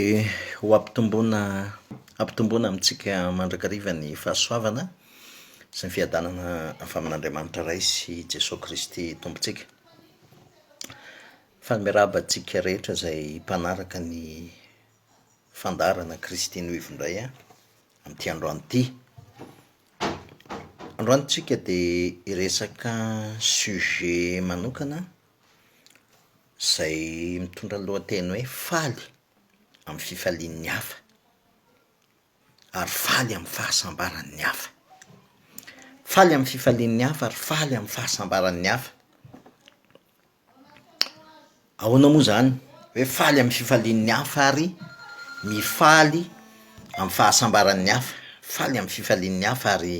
Dia ho ampitomboina ampitomboina amintsika mandrakariva ny fahasoavana sy ny fiadanana avy amin'Andriamanitra Ray sy i Jesoa Kristy Tompontsika. Faly miarahaba antsika rehetra izay mpanaraka ny fandaharana Kristy Noivo indray an, amin'ity androany ity. Androany tsika dia hiresaka sujet manokana Izay mitondra ny lohateny hoe faly amin'ny fifalian'ny hafa ary faly amin'ny fahasambaran'ny hafa. Faly amin'ny fifalian'ny hafa ary faly amin'ny fahasambaran'ny hafa. Ahoana moa zany hoe faly amin'ny fifalian'ny hafa ary mifaly amin'ny fahasambaran'ny hafa? Faly amin'ny fifalian'ny hafa ary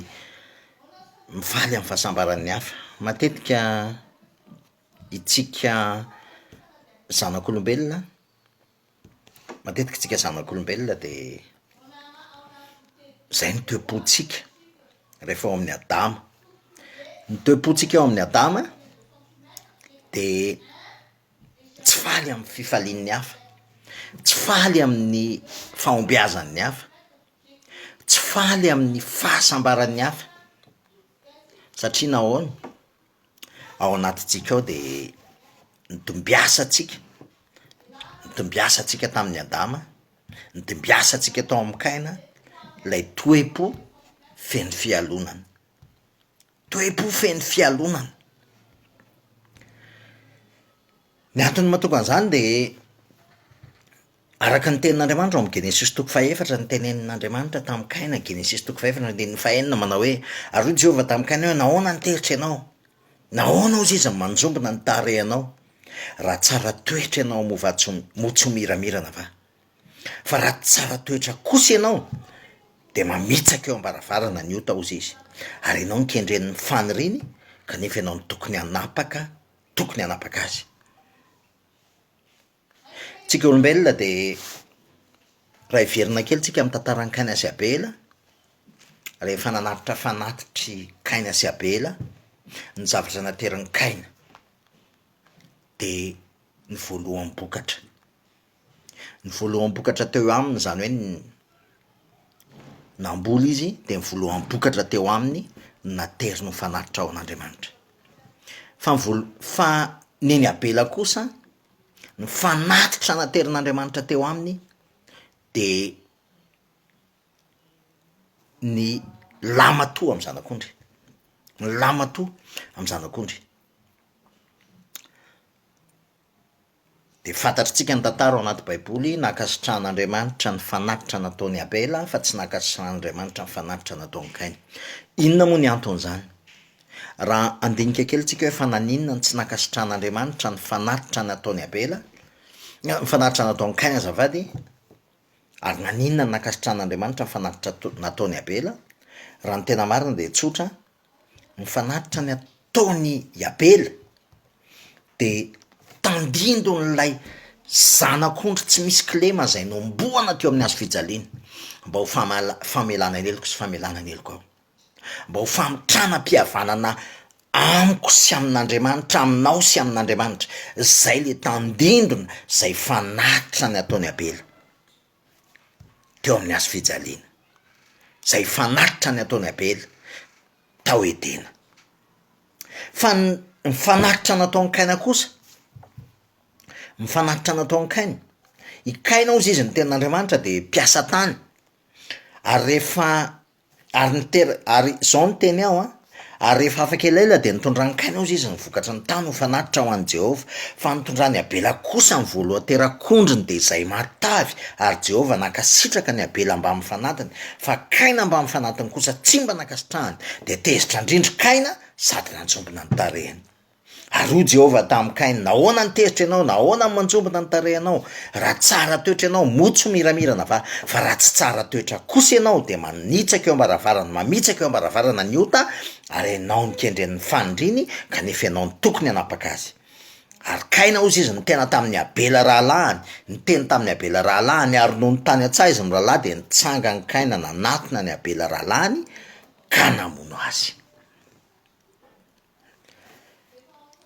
mifaly amin'ny fahasambaran'ny hafa. Matetika Itsika zanak'olombelona, matetika itsika zanak'olombelona de zay ny toe-pontsika rehefa ao amin'ny adama, ny toe-pontsika ao amin'ny adama de tsy faly amin'ny fifalian'ny hafa, tsy faly amin'ny fahombiazan'ny hafa, tsy faly amin'ny fahasambaran'ny hafa satria nahoana? ao anatintsika ao de nitombiasantsika, nitombiasantsika tamin'i Adama, nitombiasantsika tao amin'i Kaina lay toe-po feno fialonana, toe-po feno fialonana. Ny antony mahatonga an'zany de. Araka ny tenin'Andriamanitra ao amin'ny Genesisy toko fahefatra, ny tenenin'Andriamanitra tamin'i Kaina, Genesisy toko fahefatra andininy fahenina manao hoe, Ary hoy Jehovah tamin'i Kaina hoe, Nahoana no teritra ianao? Nahoana hozy izy no manjombona ny tarehinao? Raha tsara toetra ianao moa va tsy moa tsy ho miramirana va? Fa raha tsy tsara toetra kosa ianao dia mamitsaka eo am-baravarana ny ota hozy izy, ary ianao no kendren'ny faniriany kanefa ianao no tokony hanapaka tokony hanapaka azy. Tsika olombelona dia raha hiverina kely tsika amin'ny tantaran'i Kaina sy Abela, rehefa nanatitra fanatitry Kaina sy Abela ny zavatra naterin'i Kaina de ny voaloham-bokatra, ny voaloham-bokatra teo aminy zany hoe ny- namboly izy de ny voaloham-bokatra teo aminy no nateriny ho fanatitra ho an'Andriamanitra, fa ny voalo- fa ny an'i Abela kosa. ny fanatitra naterin'Andriamanitra teo aminy de ny lahimatoa amin'ny zanak'ondry, ny lahimatoa amin'ny zanak'ondry, de fantatritsika ny tantara ao anaty baiboly nankasitrahan'Andriamanitra ny fanatitra nataon'i Abela fa tsy nankasitrahan'Andriamanitra ny fanatitra nataon'i Kaina, inona moa ny anton'izany? Raha handinika kely tsika hoe fa naninona no tsy nankasitrahan'Andriamanitra ny fanatitra nataon'i Abela, ny fanatitra nataon'i Cain azafady, ary naninona no nankasitrahan'Andriamanitra ny fanatitra to- nataon'i Abela, raha ny tena marina dia tsotra, ny fanatitra ny ataon'i Abela de tandindon'ilay zanak'ondry tsy misy kilema zay nohomboana teo amin'ny hazo fijaliana mba ho famala- famelana ny heloko sy famelana ny heloko aho. mba ho famitranam-pihavanana amiko sy amin'Andriamanitra, aminao sy amin'Andriamanitra, zay le tandindona zay fanatitra ny ataon'i Abela teo amin'ny hazo fijaliana, zay fanatitra ny ataon'i Abela tao Edena, fa ny ny fanatitra nataon'i Kaina kosa, ny fanatitra nataon'i Kaina, i Kaina ozy izy ny tenin'Andriamanitra de mpiasa tany ary rehefa Ary ny tera- ary zao ny teny ao an, ary rehefa afaka elaela dia nitondran-kaina hozy izy ny vokatry ny tany ho fanatitra ho an'i Jehovah, fa nitondran'i Abela kosa ny voalohan-terak'ondriny dia izay matavy, ary Jehovah nankasitraka ny Abela mbamin'ny fanatiny, fa Kaina mbamin'ny fanatiny kosa tsy mba nankasitrahany, dia tezitra an-drindry Kaina sady nantsombina ny tarehiny. Ary hoy Jehovah tamin'i Kaina, Nahoana no tezitra ianao? Nahoana no manjombona ny tarehinao? Raha tsara toetra ianao, moa tsy ho miramirana va? Fa raha tsy tsara toetra kosa ianao, dia manitsaka eo am-baravarana, mamitsaka eo am-baravarana ny ota, ary ianao no kendren'ny fanindriny, kanefa ianao no tokony hanapaka azy. Ary Kaina, hoy izy, nitena tamin'i Abela rahalahiny, niteny tamin'i Abela rahalahiny, ary nony tany an-tsaha izy mirahalahy, dia nitsangany Kaina nanatona an'i Abela rahalahiny, ka namono azy.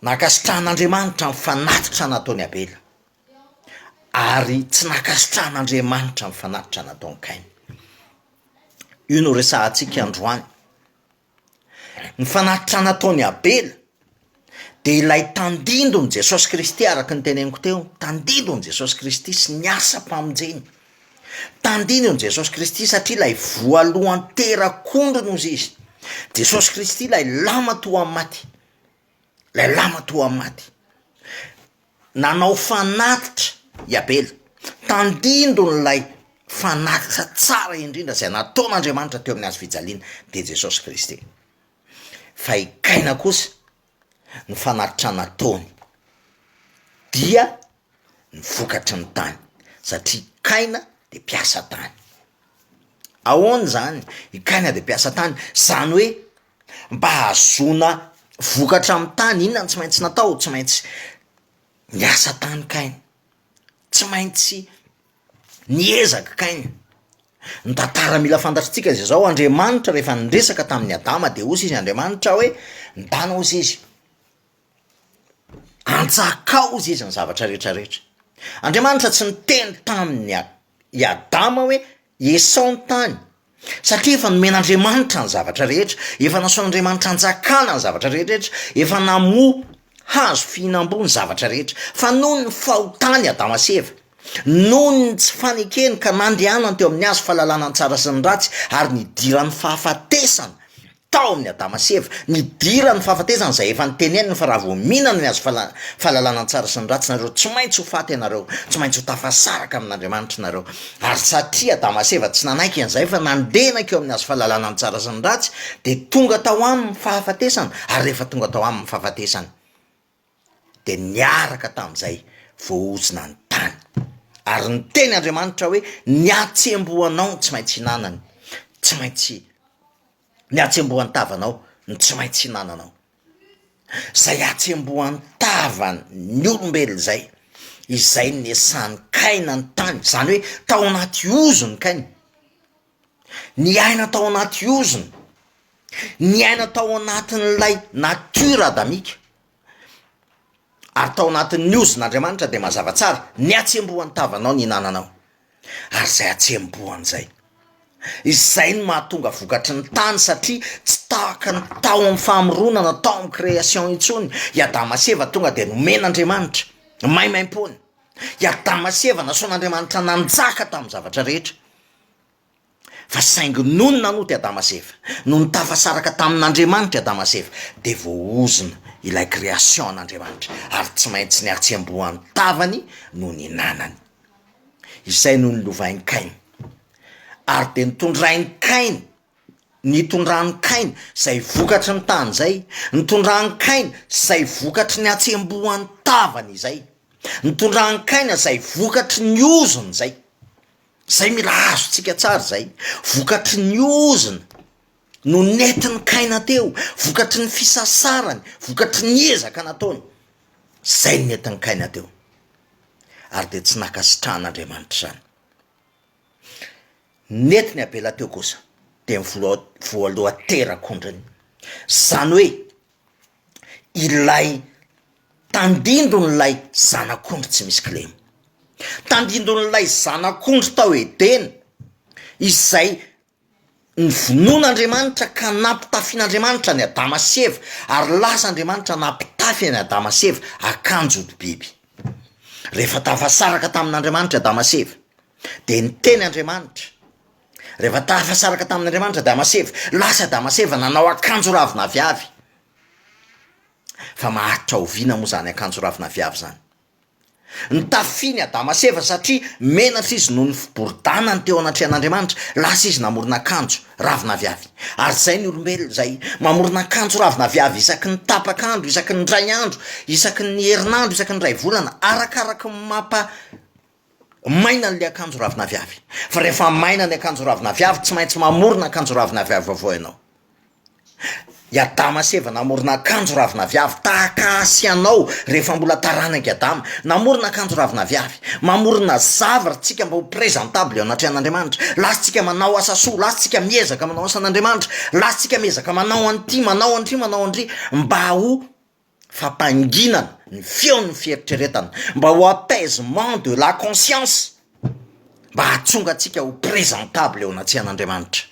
Nankasitrahan'Andriamanitra ny fanatitra nataon'i Abela, ary tsy nankasitrahan'Andriamanitra ny fanatitra nataon'i Kaina. Io no resahantsika androany. Ny fanatitra nataon'i Abela de ilay tandindon'i Jesosy Kristy araka ny teneniko teo, tandindon'i Jesosy Kristy sy ny asam-pamonjeny. Tandino an'i Jesosy Kristy satria ilay voalohan'ny terak'ondry no izy izy. Jesosy Kristy ilay lama toa amin'ny maty, ilay lama toa amin'ny maty. Nanao fanatitra i Abela. Tandindony ilay fanatitra tsara indrindra izay nataon'Andriamanitra teo amin'ny hazofijaliana dia Jesosy Kristy. Fa i Kaina kosa ny fanatitra nataony dia ny vokatry ny tany satria kaina de mpiasa tany, ahoana zany i kaina de mpiasa tany zany hoe mba hahazoana vokatra amy tany inona no tsy maintsy natao tsy maintsy niasa tany kaina, tsy maintsy niezaka kaina Ny tantara mila fantatritsika dia zao, Andriamanitra rehefa niresaka tamin'i Adama dia hozy izy Andriamanitra hoe, mitana hozy izy, antsakao hozy izy ny zavatra rehetra rehetra. Andriamanitra tsy niteny tamin'i a- i Adama hoe esao ny tany satria efa nomen'Andriamanitra ny zavatra rehetra, efa nasaon'Andriamanitra anjakana ny zavatra rehetra, efa namoa Hazo fihinam-boa ny zavatra rehetra, fa noho ny fahotany i Adama sy Eva, noho ny tsy fanekeny ka nandehanany teo amin'ny hazo fahalalana ny tsara sy ny ratsy, ary nidiran'ny fahafatesana tao amin'ny Adama sy Eva, nidiran'ny fahafatesana izay efa noteneniny fa raha vao mihinana ny hazo fala- fahalalana ny tsara sy ny ratsy nareo tsy maintsy ho faty ianareo, tsy maintsy ho tafasaraka amin'Andriamanitra nareo. Ary satria Adama sy Eva tsy nanaiky an'izay fa nandenak eo amin'ny hazo fahalalana ny tsara sy ny ratsy dia tonga tao aminy fahafatesana ary rehefa tonga tao aminy fahafatesana dia niaraka tamin'izay voaozona ny tany. Ary niteny Andriamanitra hoe, ny hatsembohanao no tsy maintsy hinanany, tsy maintsy, ny hatsembohan'ny tavanao no tsy maintsy hinananao. zay hatsembohan'ny tavan'ny olombelona zay, izay niesan'i kaina ny tany zany hoe tao anaty ozona kaina, niaina tao anaty ozona, niaina tao anatin'ilay natiora adamika ary tao anatin'ny ozona andriamanitra de mazava tsara ny hatsembohan'ny tavanao ny hinananao, ary izay hatsembohany izay. Izay no mahatonga vokatry ny tany satria tsy tahaka ny tao amin'ny famoronana, tao amin'ny création intsony i Adama sy Eva tonga dia nomen'Andriamanitra maimaimpoana, i Adama sy Eva nasoan'Andriamanitra nanjaka tamin'ny zavatra rehetra. fa saingy nony nanoto i Adama sy Eva, nony tafasaraka tamin'Andriamanitra i Adama sy Eva dia voahozona ilay création an'Andriamanitra ary tsy maintsy nihatsembohan'ny tavany no nihinanany, izay no nilovain'i Kaina ary dia nitondrain'i Kaina, nitondran'i Kaina izay vokatry ny tany izay, nitondran'i Kaina izay vokatry ny hatsembohan'ny tavany izay, nitondran'i Kaina izay vokatry ny ozony izay, Zay mila azontsika tsara zay, vokatry ny ozona no nentin'i Kaina teo, vokatry ny fisasarany, vokatry ny ezaka nataony, zay no nentin'i Kaina teo, ary dia tsy nankasitrahan'Andriamanitra izany. Nentin'i Abela teo kosa dia ny vola- voalohan-terak'ondriny, zany hoe ilay tandindon'ilay zanak'ondry tsy misy kilema, tandindon'ilay zanak'ondry tao Edena izay novonoin'Andriamanitra ka nampitafian'Andriamanitra an'i Adama sy Eva ary lasa Andriamanitra nampitafy an'i Adama sy Eva akanjo odi-biby, rehefa tafasaraka tamin'Andriamanitra i Adama sy Eva dia niteny Andriamanitra. Rehefa tafasaraka tamin'Andriamanitra Adama sy Eva, lasa Adama sy Eva nanao akanjo ravin'aviavy, fa maharitra oviana moa zany akanjo ravin'aviavy zany? Nitafiany Adama sy Eva satria menatra izy noho ny fiboridànany teo anatrehan'Andriamanitra, lasa izy namorona akanjo ravin'aviavy, ary zay ny olombelona zay, mamorona akanjo ravin'aviavy isaky ny tapak'andro, isaky ny indray andro, isaky ny herinandro, isaky ny indray volana, arakaraky ny mampa-. Maina an'ilay akanjo ravinaviavy. Fa rehefa maina ny akanjo ravinaviavy, tsy maintsy mamorona akanjo ravinaviavy vaovao ianao. I Adama sy Eva namorona akanjo ravinaviavy, tahaka ahy sy anao, rehefa mbola taranak'i Adama. Namorona akanjo ravinaviavy. Mamorona zavatra isika mba ho présentable eo anatrehan'Andriamanitra. Lasantsika manao asa soa, lasantsika miezaka manao asan'Andriamanitra, lasantsika miezaka manao an'ity, manao an'ity, manao an'ity, mba ho. fampanginana ny feon'ny fieritreretana mba ho apaisement de la conscience mba hahatonga antsika ho presentable eo anatrehan'Andriamanitra,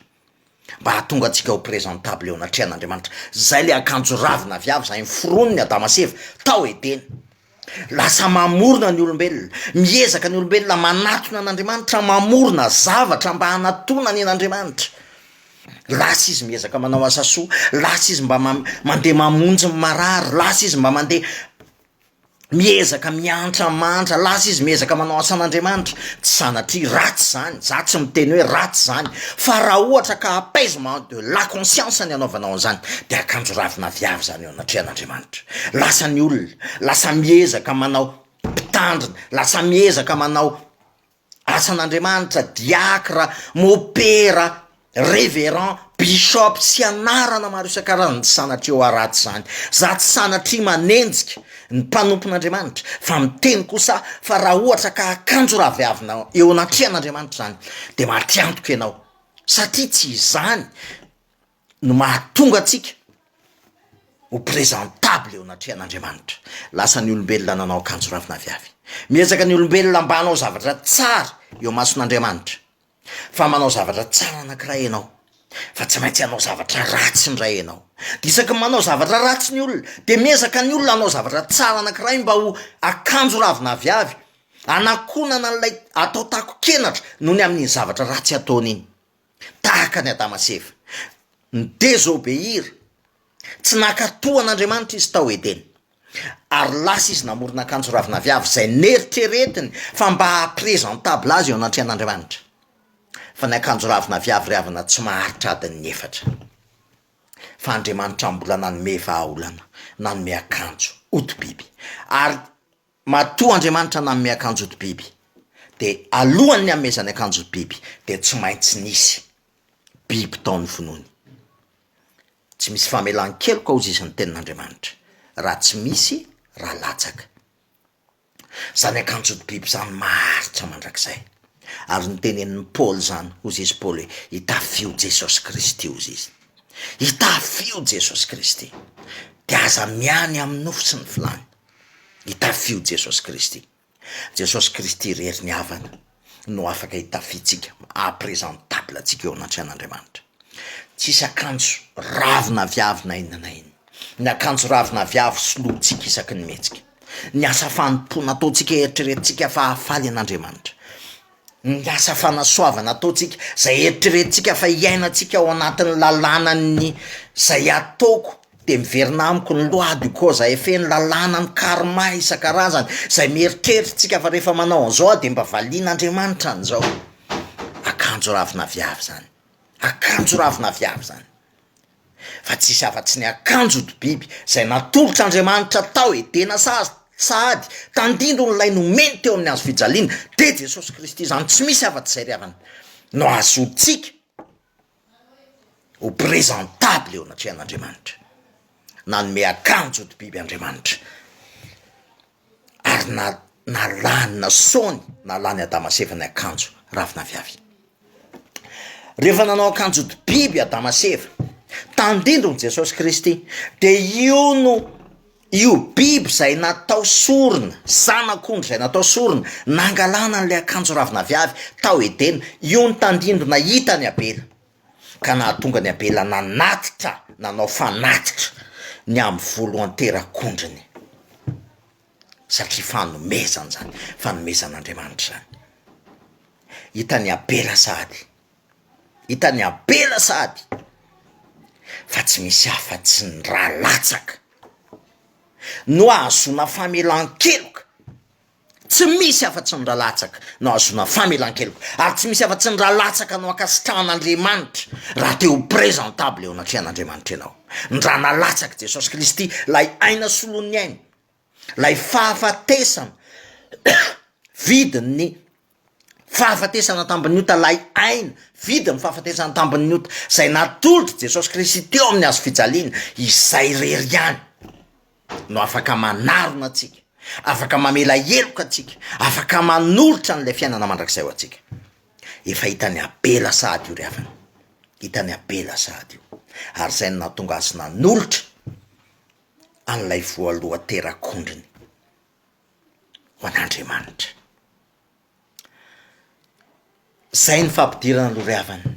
mba hahatonga antsika ho presentable eo anatrehan'Andriamanitra, zay le akanjo ravina avy avy zay noforonin'i Adama sy Eva tao Edena, lasa mamorona ny olombelona, miezaka ny olombelona manatona an'Andriamanitra, mamorona zavatra mba hanatonany an'Andriamanitra. Lasa izy miezaka manao asa soa, lasa izy mba mandeha mamonjy ny marary, lasa izy mba mandeha miezaka miantra mantra, lasa izy miezaka manao asan'Andriamanitra, tsy sanatria ratsy izany, za tsy miteny hoe ratsy izany fa raha ohatra ka apaisement de la conscience ny anaovanao an'izany de akanjo ravina viavy izany eo anatrehan'Andriamanitra, lasa ny olona lasa miezaka manao mpitandrina, lasa miezaka manao asan'Andriamanitra, diakra, mopera, reverend, bishop sy anarana maro isan-karazany tsy sanatria ho araty izany. Za tsy sanatria manenjika ny mpanompon'Andriamanitra fa miteny kosa aho fa raha ohatra ka akanjo raviavina eo anatrehan'Andriamanitra izany dia matiantoka ianao satria tsy izany no mahatonga antsika ho presentable eo anatrehan'Andriamanitra. Lasa ny olombelona nanao akanjo rafina avy avy. Miezaka ny olombelona mba hanao zavatra tsara eo amason'Andriamanitra. Fa manao zavatra tsara anankiray ianao, fa tsy maintsy hanao zavatra ratsy indray ianao. Dia isaky ny manao zavatra ratsy ny olona, dia miezaka ny olona hanao zavatra tsara anankiray mba ho akanjo ravina avy avy, hanakonana an'ilay atao takon-kenatra noho ny amin'iny zavatra ratsy ataony iny. tahaka an'i Adama sy Eva. Ni-desobeir, tsy naka-to an'Andriamanitra izy tao Edena. Ary lasa izy namorona akanjo ravin'aviavy izay neritreretiny fa mba haha-presentable azy eo anatrehan'Andriamanitra. Fa ny akanjo ravin'aviavy ry havana tsy maharitra adin'ny efatra. Fa Andriamanitra mbola nanome vahaolana, nanome akanjo, hodi-biby. Ary. Matoa Andriamanitra nanome akanjody biby, dia alohan'ny hanomezany akanjody biby, dia tsy maintsy nisy biby tao ny finoany. Tsy misy famelan-keloka hozy izy ny tenin'Andriamanitra, raha tsy misy, raha latsaka. Izany akanjody biby izany maharitra mandrakizay. Ary notenenin'i Paoly izany, hozy izy Paoly hoe, itafio Jesosy Kristy hozy izy. Itafio Jesosy Kristy, dia aza miahy ny amin'ny nofo sy ny filàny. Itafio Jesosy Kristy. Jesosy Kristy irery ny havana no afaka itafiantsika, maha presentable antsika eo anatrehan'Andriamanitra. Tsisy akanjo ravo na viavy na inona na inona. Ny akanjo ravo na viavy solointsika isaky ny mihetsika. Ny asa fanompoana ataontsika eritreretintsika fa hahafaly an'Andriamanitra. ny asa fanasoavana ataontsika, zay eritreretintsika fa hiainantsika ao anatin'ny lalànan'ny zay ataoko de miverina amiko ny loi de cause à effet, ny lalànan'ny karma isan-karazany, zay mieritreritrintsika fa rehefa manao an'izao aho de mba valian'Andriamanitra an'izao, akanjo ravin'aviavy zany, akanjo ravin'aviavy zany. fa tsisy afa-tsy ny akanjo ody biby izay natolotr'Andriamanitra tao Edena sady sahady tandindon' ilay nomeny teo amin'ny hazo fijaliana, dia Jesosy Kristy izany tsy misy afa-tsy izay ry havana no azontsika ho présentable eo anatrehan'Andriamanitra, nanome akanjo ody biby Andriamanitra. ary na- nalany nasaony nalany adama sy eva ny akanjo ravin'aviavy rehefa nanao akanjo ody biby adama sy eva tandindony jesosy kristy de io no io biby zay natao sorona zanak'ondry izay natao sorona nangalana an'le akanjo ravin'aviavy tao edena io ny tandindona hitany abela ka nahatonga an'i Abela nanatitra, nanao fanatitra ny amin'ny voalohan-terak'ondriny, satria fanomezana izany, fanomezan'Andriamanitra izany. Hitan'i Abela sahady, hitan'i Abela sahady fa tsy misy afa-tsy ny ra latsaka no ahazoana famelan-keloka. Tsy misy afa-tsy ny ra latsaka no ahazoana famelan-keloka, ary tsy misy afa-tsy ny ra latsaka no ankasitrahan'Andriamanitra, raha te ho presentable eo anatrehan'Andriamanitra ianao. Ny ra nalatsak'i Jesosy Kristy, ilay aina solon'ny aina, ilay fahafatesana vidin'ny. fahafatesana an-tambin'ny ota lay aina, vidi ny fahafatesana an-tambin'ny ota, izay natolotry Jesosy Kristy teo amin'ny hazo fijaliana, izay irery ihany no afaka manarona antsika, afaka mamela heloka antsika, afaka manolotra an'ilay fiainana mandrakizay ho antsika. Efa hitan'i Abela sahady io ry havana, hitan'i Abela sahady io, ary izay no nahatonga azy nanolotra an'ilay voalohan-terak'ondriny ho an'Andriamanitra. Zay ny fampidirana loha ry havana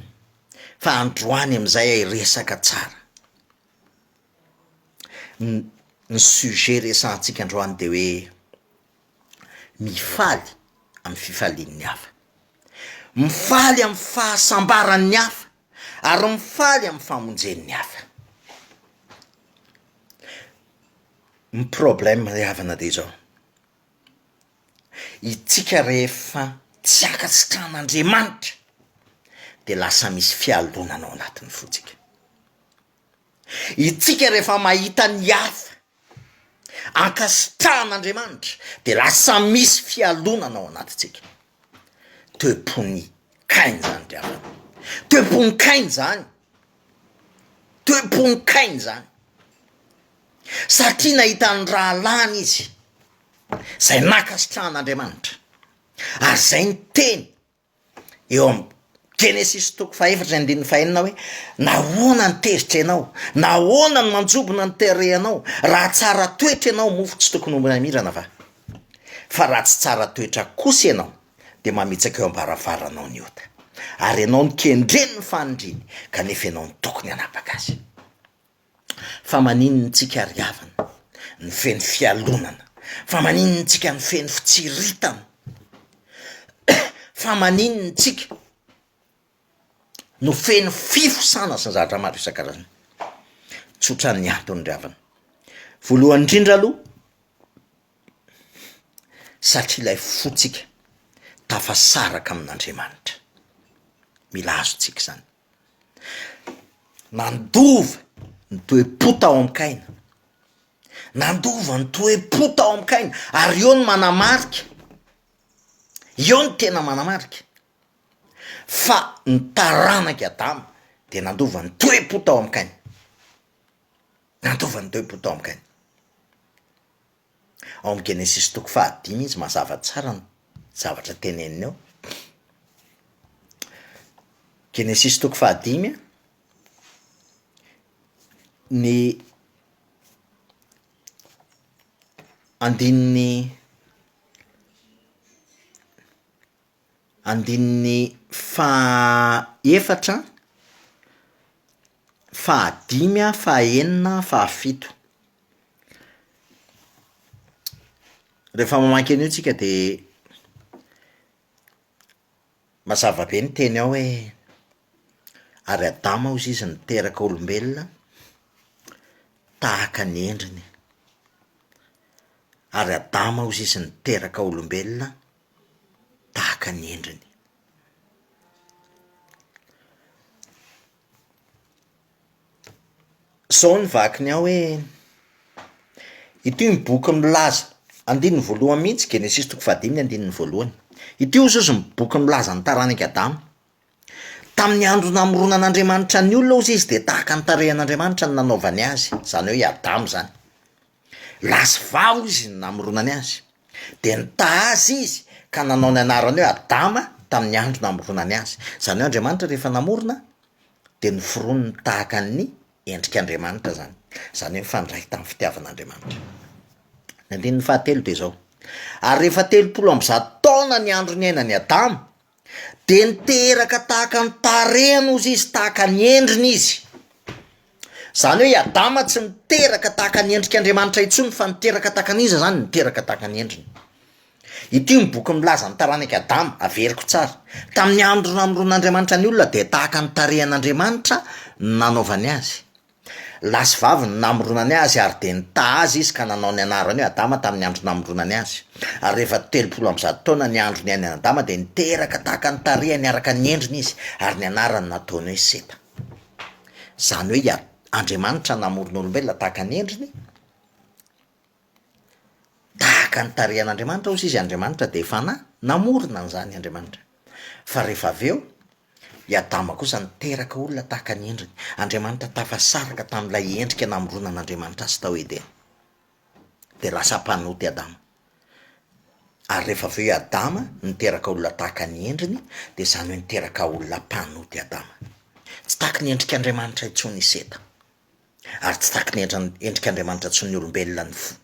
fa androany amizay hiresaka tsara. Ny- ny sujet resahantsika androany de hoe mifaly amin'ny fifalian'ny hafa. Mifaly amin'ny fahasambaran'ny hafa. ary mifaly amin'ny famonjen'ny hafa. Ny problème ry havana dia izao, isika rehefa tsy ankasitrahan'Andriamanitra dia lasa misy fialonana ao anatin'ny fontsika. Isika rehefa mahita ny hafa ankasitrahan'Andriamanitra dia lasa misy fialonana ao anatintsika. Toe-pon'i Kaina izany ry havana. Toe-pon'i Kaina izany. Toe-pon'i Kaina izany. Satria nahita ny rahalahiny izy izay nankasitrahan'Andriamanitra ary izay niteny eo amin'ny Genesisy toko fahefatra sy andininy fahenina hoe, nahoana no tezitra ianao? Nahoana no manjobona ny tarehinao? Raha tsara toetra ianao moa tsy tokony ho mamirana va? Fa raha tsy tsara toetra kosa ianao dia mamitsaka eo am-baravaranao ny ota, ary ianao no kendren'ny fanindriny kanefa ianao no tokony hanapaka azy. Fa maninona tsika ry havana no feno fialonana? Fa maninona tsika no feno fitsiritana? Fa maninona tsika no feno fifosana sy ny zavatra maro isan-karazany? Tsotra ny antony ry havana, voalohany indrindra aloha satria ilay fotsika tafasaraka amin'Andriamanitra, mila azontsika izany. Nandova ny toe-po tao amin-kaina, nandova ny toe-po tao amin-kaina ary eo no manamarika, eo no tena manamarika fa ny taranak'i Adama dia nandova ny toe-po tao amin-kaina, nandova ny toe-po tao amin-kaina. Ao amin'ny Genesisy toko fahadimy izy mazava tsara ny zavatra teneniny ao. Genesisy toko fahadimy a, ny andininy Andininy fahaefatra, fahadimy a, fahaenina, fahafito. Rehefa mamaky an'io tsika de mazava be ny teny ao hoe ary Adama hozy izy niteraka olombelona tahaka ny endriny, ary Adama hozy izy niteraka olombelona. tahaka ny endriny. Zao ny vakiny ao hoe: ity ny boky milaza, andininy voalohany mihitsy, Genesisy toko fahadimy ny andininy voalohany, ity hoy Jesosy ny boky milaza ny taranak'i Adama. Tamin'ny andro namoronan'Andriamanitra ny olona hozy izy dia tahaka ny tarehin'Andriamanitra no nanaovany azy, izany hoe i Adama izany. Lahy sy vavy hoy izy no namoronany azy, dia nitaha azy izy ka nanao ny anarany hoe Adama tamin'ny andro namoronany azy, izany hoe Andriamanitra rehefa namorona dia noforoniny tahaka ny endrik'Andriamanitra izany, izany hoe nifandray tamin'ny fitiavan'Andriamanitra. Ny andininy fahatelo dia zao, ary rehefa telopolo amby zato taona ny andro niainan'i Adama de niteraka tahaka ny tarehiny ozy izy, tahaka ny endriny izy, zany hoe i Adama tsy niteraka tahaka ny endrik'Andriamanitra intsony fa niteraka tahaka ny iza zany, niteraka tahaka ny endriny, ity ny boky milaza ny taranak'i Adama, averiko tsara, tamin'ny andro namoron'Andriamanitra ny olona dia tahaka ny tarehin'Andriamanitra no nanaovany azy. Lahy sy vavy no namoronany azy ary dia nitaha azy izy ka nanao ny anarany hoe Adama tamin'ny andro namoronany azy. Ary rehefa telopolo amby zato taona ny andro niainan'i Adama dia niteraka tahaka ny tarehiny araka ny endriny izy ary ny anarany nataony hoe Seta. Izany hoe i Ad, Andriamanitra namoron'olombelona tahaka ny endriny. Tahaka ny tarehin'Andriamanitra hozy izy, Andriamanitra dia Fanahy, namorona an'izany Andriamanitra. Fa rehefa avy eo, i Adama kosa niteraka olona tahaka ny endriny. Andriamanitra tafasaraka tamin'ilay endrika namoronan'Andriamanitra azy tao Edena. Dia lasa mpanota i Adama. Ary rehefa avy eo i Adama niteraka olona tahaka ny endriny, dia izany hoe niteraka olona mpanota i Adama. Tsy tahaka ny endrik'Andriamanitra intsony i Seta. ary tsy takin'ny endran'ny endrik'Andriamanitra tsy ny olombelona ny fo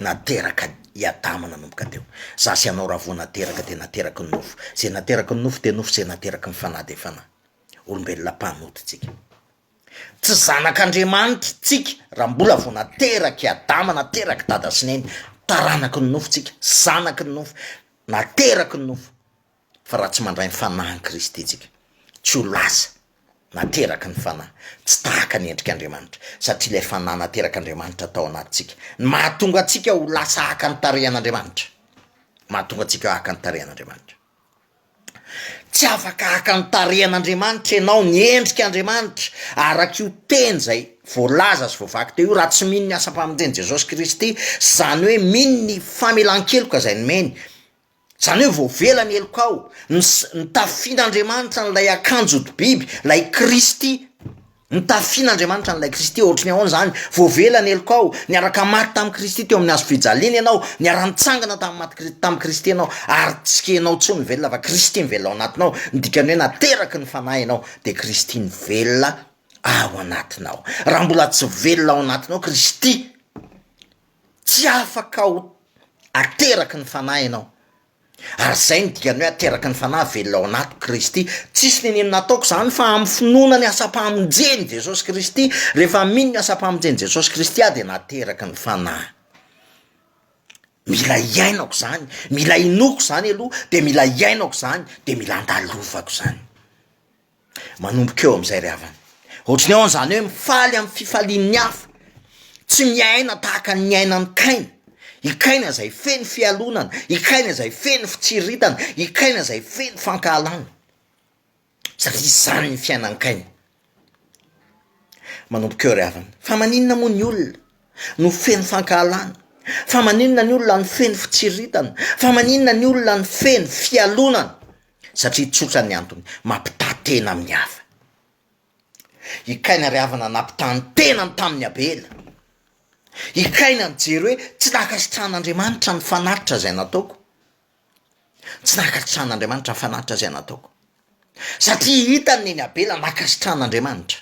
nateraka i Adama nanomboka teo. Za sy ianao raha vao nateraka dia nateraky ny nofo. Izay nateraky ny nofo dia nofo izay nateraky ny fanahy dia fanahy. Olombelona mpanota tsika. Tsy zanak'Andriamanitra tsika raha mbola vao naterak'i Adama, naterak'i Dada sy Neny. Taranaky ny nofo tsika, zanaky ny nofo, nateraky ny nofo. Fa raha tsy mandray ny Fanahin'i Kristy isika, tsy ho lasa nateraky ny Fanahy, tsy tahaka ny endrik'Andriamanitra, satria ilay Fanahy naterak'Andriamanitra tao anatintsika, no mahatonga antsika ho lasa haka ny tarehin'Andriamanitra, mahatonga antsika haka ny tarehin'Andriamanitra. Tsy afaka haka ny tarehin'Andriamanitra ianao, ny endrik'Andriamanitra, arak'io teny izay voalaza sy voavaky teo io, raha tsy mino ny asam-pamonjen'i Jesosy Kristy, izany hoe mino ny famelan-keloka izay nomeny, Izany hoe voavela ny heloka ao, ny ny tafin'Andriamanitra an'ilay akanjo hodi-biby, ilay Kristy, ny tafin'Andriamanitra an'ilay Kristy, ohatry ny ahoana izany? Voavela ny heloka ao, niaraka maty tamin'i Kristy teo amin'ny hazo fijaliana ianao, niara-nitsangana tamin'ny maty Kri- tamin'i Kristy ianao, ary tsy ianao intsony no velona fa Kristy no velona ao anatinao, ny dikany hoe nateraky ny Fanahy ianao dia Kristy no velona ao anatinao, raha mbola tsy velona ao anatinao Kristy, Tsy afaka ho ateraky ny Fanahy ianao, ary izay no dikan'ny hoe ateraky ny Fanahy, velona ao anaty Kristy. Tsisy nenino nataoko izany fa amin'ny finoana ny asam-pamonjen'i Jesosy Kristy, rehefa mino ny asam-pamonjen'i Jesosy Kristy aho dia nateraky ny Fanahy. Mila iainako izany, mila inoako izany aloha, dia mila iainako izany, dia mila andalovako izany. Manomboka eo amizay ry havana, ohatry ny hoe zany hoe mifaly amin'ny fifalian'ny hafa, tsy miaina tahaka ny niainan'i kaina, i kaina zay feno fialonana, i kaina zay feno fitsiritana, i kaina zay feno fankahalana, satria zany ny fiainan'i kaina, manomboka eo ry havana, fa maninona moa ny olona no feno fankahalana, fa maninona ny olona no feno fitsiritana, fa maninona ny olona no feno fialonana. Satria tsotra ny antony, mampitaha tena amin'ny hafa. I Kaina ry havana nampitaha ny tenany tamin'i Abela. I Kaina nijery hoe, tsy nankasitrahan'Andriamanitra ny fanatitra izay nataoko. Tsy nankasitrahan'Andriamanitra ny fanatitra izay nataoko. Satria hitany neny Abela nankasitrahan'Andriamanitra.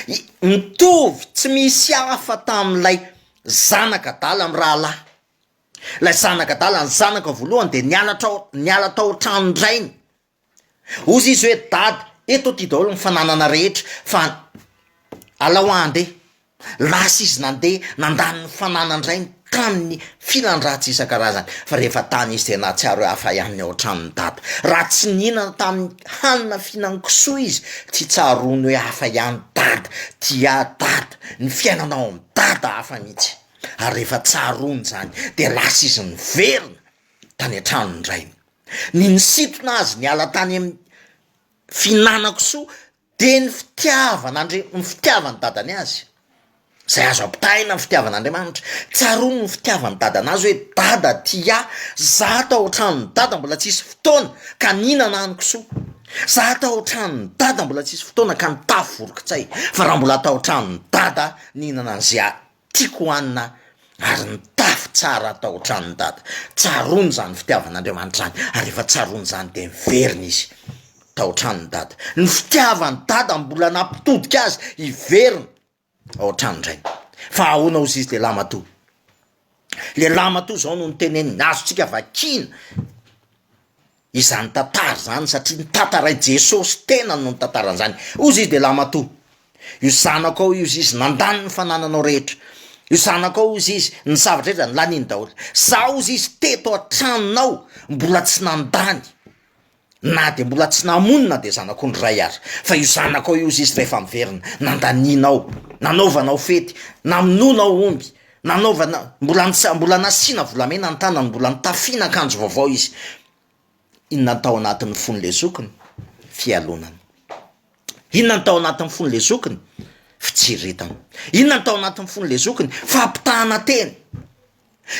I- Mitovy tsy misy hafa tamin'ilay zanak'adala mirahalahy. Ilay zanaka adala ny zanaka voalohany dia niala trao niala tao an-tranon-drainy. Hozy izy hoe, Dada, eto aty daholo ny fananana rehetra fa alao aho handeha. Lasa izy nandeha nandany ny fananan-drainy tamin'ny filan-dratsy isan-karazany. Fa rehefa tany izy dia nahatsiaro hoe hafa ihany ny ao an-tranon'i Dada. Raha tsy nihinana tamin'ny hanina fihinan-kisoa izy, tsy tsaroany hoe hafa ihany Dada, tia ahy Dada, ny fiainana ao amin'i Dada hafa mihitsy. ary rehefa tsaroany izany dia lasa izy niverina tany an-tranon'ny rainy. Ny nisintona azy niala tany amin'ny fihinana-kisoa dia ny fitiavan'Andri- ny fitiavan'ny dadany azy, izay azo ampitahaina amin'ny fitiavan'Andriamanitra. Tsaroany ny fitiavan'ny dadany azy hoe, dada ty ahy, za tao an-tranon'i dada mbola tsy hisy fotoana ka nihinana aho ny kisoa, za tao an-tranon'i dada mbola tsy hisy fotoana ka nitafy voronkitsay, fa raha mbola tao an-tranon'i dada aho nihinana an'izay Tiako hohanina ary nitafy tsara tao an-tranon'i Dada. Tsaroany izany fitiavan'Andriamanitra izany ary rehefa tsaroany izany dia niverina izy tao an-tranon'i Dada. Ny fitiavan'i Dada no mbola nampitodika azy hiverina ao an-tranon-drainy. Fa ahoana ozy izy lehilahy matoa? Lehilahy matoa izao no niteneniny, azontsika vakiana. izany tantara izany satria ny tantarai Jesosy tenany no nitantarany izany, ozy izy dia lahimatoa, io zanako ao io ozy izy nandany ny fanananao rehetra, io zanako ao ozy izy ny zavatra rehetra zany laniny daholo, za ozy izy teto an-tranonao mbola tsy nandany na dia mbola tsy namono na dia zanak'ondry ray ary, fa io zanako ao io ozy izy rehefa miverina nandanianao, nanaovanao fety, namonoanao omby, Nanaovana, mbola nisa, mbola nasiana volamena ny tanany, mbola notafiana akanjo vaovao izy. Inona no tao anatin'ny fon'ilay zokiny? Fialonana. Inona no tao anatin'ny fon'ilay zokiny? Fitsiriritana. Inona no tao anatin'ny fon'ilay zokiny? Fampitahana teny.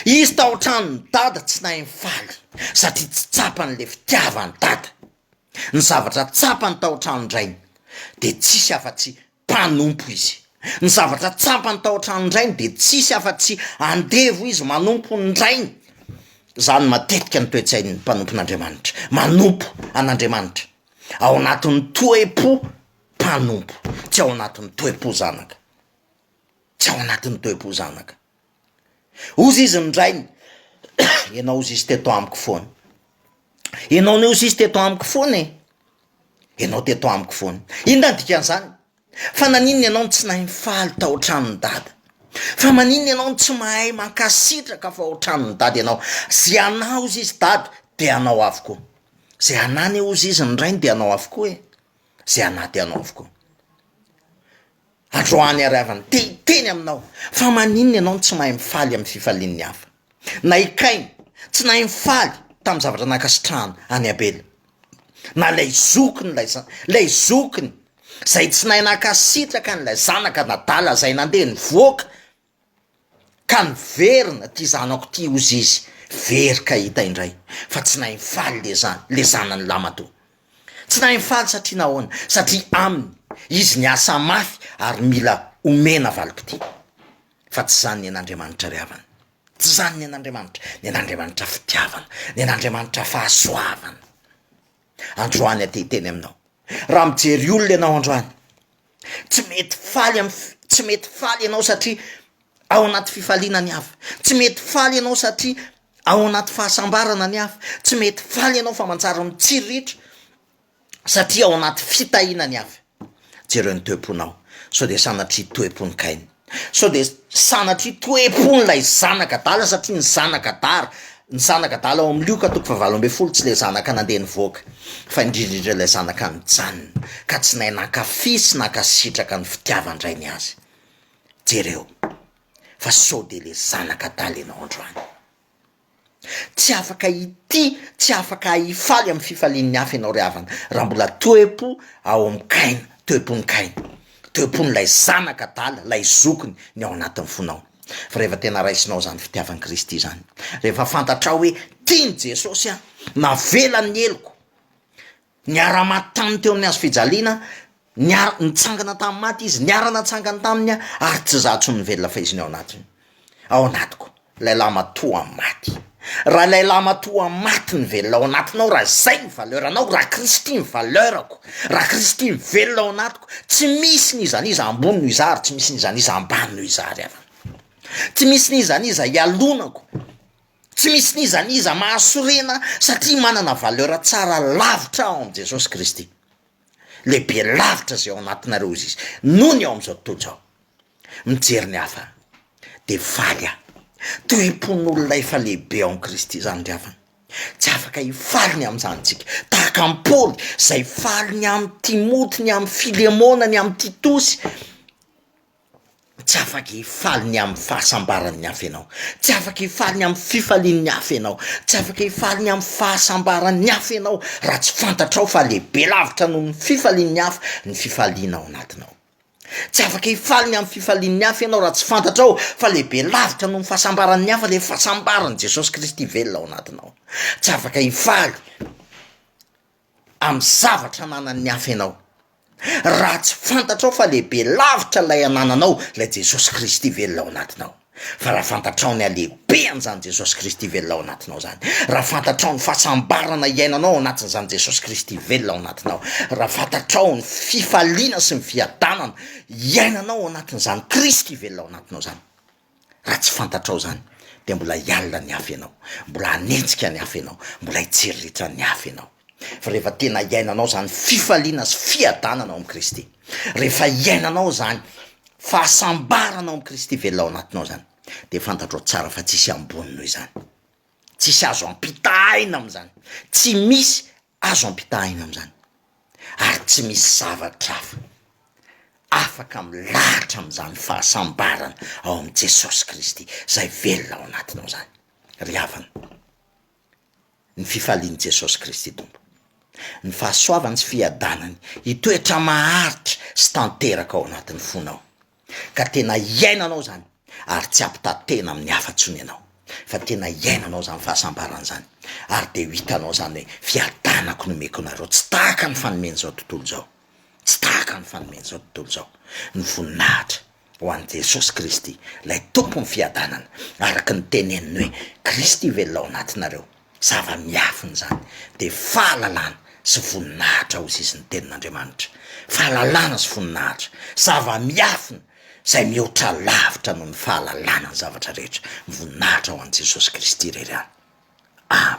Izy tao an-tranon'ny dada tsy nahay nifaly satria tsy tsapany ilay fitiavany dada. Ny zavatra tsapany tao an-tranon-drainy dia tsisy afa-tsy mpanompo izy. Ny zavatra tsapany tao an-tranon'ny rainy dia tsisy afa-tsy andevo izy manompo ny rainy. Izany matetika ny toe-tsain'ny mpanompon'Andriamanitra, manompo an'Andriamanitra ao anatin'ny toe-po mpanompo, tsy ao anatin'ny toe-po zanaka, tsy ao anatin'ny toe-po zanaka. Hozy izy ny rainy, Ianao hozy izy teto amiko foana. Ianao anie hozy izy teto amiko foana e. Ianao teto amiko foana. Inona ny dikan'izany? Fa naninona ianao no tsy nahay nifaly tao an-tranon'i Dada? Fa maninona ianao no tsy mahay mankasitraka fa ao an-tranon'i Dada ianao? Izay anà hozy izy Dada dia anao avokoa. Izay anà anie hozy izy ny rainy dia anao avokoa e. Izay anà dia anao avokoa. Androany ary havany te hiteny aminao fa maninona ianao no tsy mahay mifaly amin'ny fifalian'ny hafa. Na i Kaina, tsy nahay nifaly tamin'ny zavatra nankasitrahana an'i Abela. Na ilay zokiny ilay za- ilay zokiny izay tsy nahay nankasitraka an'ilay zanaka an'adala izay nandeha nivoaka. ka niverina ty zanako ty ozy izy very ka hita indray fa tsy nahay nifaly le zany le zanany lamatoa tsy nahay nifaly satria nahoana satria aminy izy niasa mafy ary mila omena valim-potoana fa tsy zany ny an'Andriamanitra ry havana tsy zany ny an'Andriamanitra ny an'Andriamanitra fitiavana ny an'Andriamanitra fahasoavana androany aty hiteny aminao raha mijery olona ianao androany Tsy mety faly am tsy mety faly ianao satria ao anaty fifaliana ny hafa. Tsy mety faly ianao satria ao anaty fahasambarana ny hafa. Tsy mety faly ianao fa manjary mitsiriritra satria ao anaty fitahiana ny hafa. Jereo ny toe-ponao sao dia sanatria toe-pon'i Kaina. Sao dia sanatria toe-pon'ilay zanak'adala satria ny zanak'adala ny zanak'adala ao amin'ny lioka toko fahavalo ambin'ny folo tsy ilay zanaka nandeha nivoaka fa indrindra indrindra ilay zanaka nijanona ka tsy nahay nankafy sy nankasitraka ny fitiavan-drainy azy. Jereo fa sao dia ilay zanak'adala ianao androany. Tsy afaka hitia, tsy afaka hifaly amin'ny fifalian'ny hafa ianao ry havana, raha mbola toe-po ao amin'i Kaina, toe-pon'i Kaina, toe-pon'ilay zanaka adala, ilay zokiny ny ao anatin'ny fonao. Fa rehefa tena raisinao izany fitiavan'i Kristy izany, rehefa fantatrao hoe tian'i Jesosy aho, navelany ny heloko, Niara-maty taminy teo amin'ny hazo fijaliana, niara, nitsangana tamin'ny maty Izy, niara-natsangany taminy aho, ary tsy izaho intsony no velona fa Izy no ao anatiny, ao anatiko, ilay lahy matoa maty. Raha ilay lahy matoa maty no velona ao anatinao, raha izay ny valeur anao, raha Kristy ny valeur-ko, raha Kristy no velona ao anatiko, tsy misy n'iza n'iza ambony noho izaho ary tsy misy n'iza n'iza ambany noho izaho ry havana. Tsy misy n'iza n'iza ialonako. Tsy misy n'iza n'iza mahasorena satria manana valeur tsara lavitra ao amin'i Jesosy Kristy. Lehibe lavitra izay ao anatinareo hoy izy, noho ny ao amin'izao tontolo izao. Mijery ny hafa dia faly aho. Tohim-pon'olona efa lehibe ao amin'i Kristy izany ry havana. Tsy afaka hifaly ny amin'izany isika. Tahaka an'i Paoly izay faly ny amin'i Timoty, ny amin'i Filemona, ny amin'i Titosy. Tsy afaka hifaly ny amin'ny fahasambaran'ny hafa ianao, tsy afaka hifaly ny amin'ny fifalian'ny hafa ianao, tsy afaka hifaly ny amin'ny fahasambaran'ny hafa ianao raha tsy fantatrao fa lehibe lavitra noho ny fifalian'ny hafa ny fifaliana ao anatinao. Tsy afaka hifaly ny amin'ny fifalian'ny hafa ianao raha tsy fantatrao fa lehibe lavitra noho ny fahasambaran'ny hafa le fahasambaran'i Jesosy Kristy velona ao anatinao, tsy afaka hifaly. amin'ny zavatra ananan'ny hafa ianao, raha tsy fantatrao fa lehibe lavitra ilay anananao, ilay Jesosy Kristy velona ao anatinao. Fa raha fantatrao ny halehibehan'izany Jesosy Kristy velona ao anatinao izany, raha fantatrao ny fahasambarana iainanao ao anatin'izany Jesosy Kristy velona ao anatinao, raha fantatrao ny fifaliana sy ny fiadanana iainanao ao anatin'izany Kristy velona ao anatinao izany, Raha tsy fantatrao zany de mbola hiala ny afo ianao, mbola hanenjika ny afo ianao, mbola hitsiririitra ny afo ianao, fa rehefa tena iainanao zany fifaliana sy fiadanana ao amin'i Kristy, rehefa iainanao zany fahasambarana ao amin'i Kristy velona ao anatinao zany de fantatrao tsara fa tsisy ambony noho izany, tsisy azo ampitahaina am'zany, tsy misy Azo ampitahaina amin'izany ary tsy misy zavatra hafa afaka milahatra amin'izany fahasambarana ao amin'i Jesosy Kristy izay velona ao anatinao izany ry havana. Ny fifalian'i Jesosy Kristy Tompo, ny fahasoavany sy fiadanany hitoetra maharitra sy tanteraka ao anatin'ny fonao. ka tena hiainanao izany ary tsy hampitantena amin'ny hafa intsony ianao fa tena hiainanao izany fahasambarana izany ary dia ho hitanao izany hoe fiadanako nomeko anareo tsy tahaka ny fanomen'izao tontolo izao, tsy tahaka ny fanomen'izao tontolo izao, ny voninahitra ho an'i Jesosy Kristy ilay Tompon'ny fiadanana araka ny teneniny hoe Kristy velona ao anatinareo. Zava-miafina izany dia fahalalana sy voninahitra ho zizin'ny Tenin'Andriamanitra. Fahalalana sy voninahitra, zava-miafina izay mihoatra lavitra noho ny fahalalana ny zavatra rehetra. Voninahitra ho an'i Jesosy Kristy irery ihany. Amena.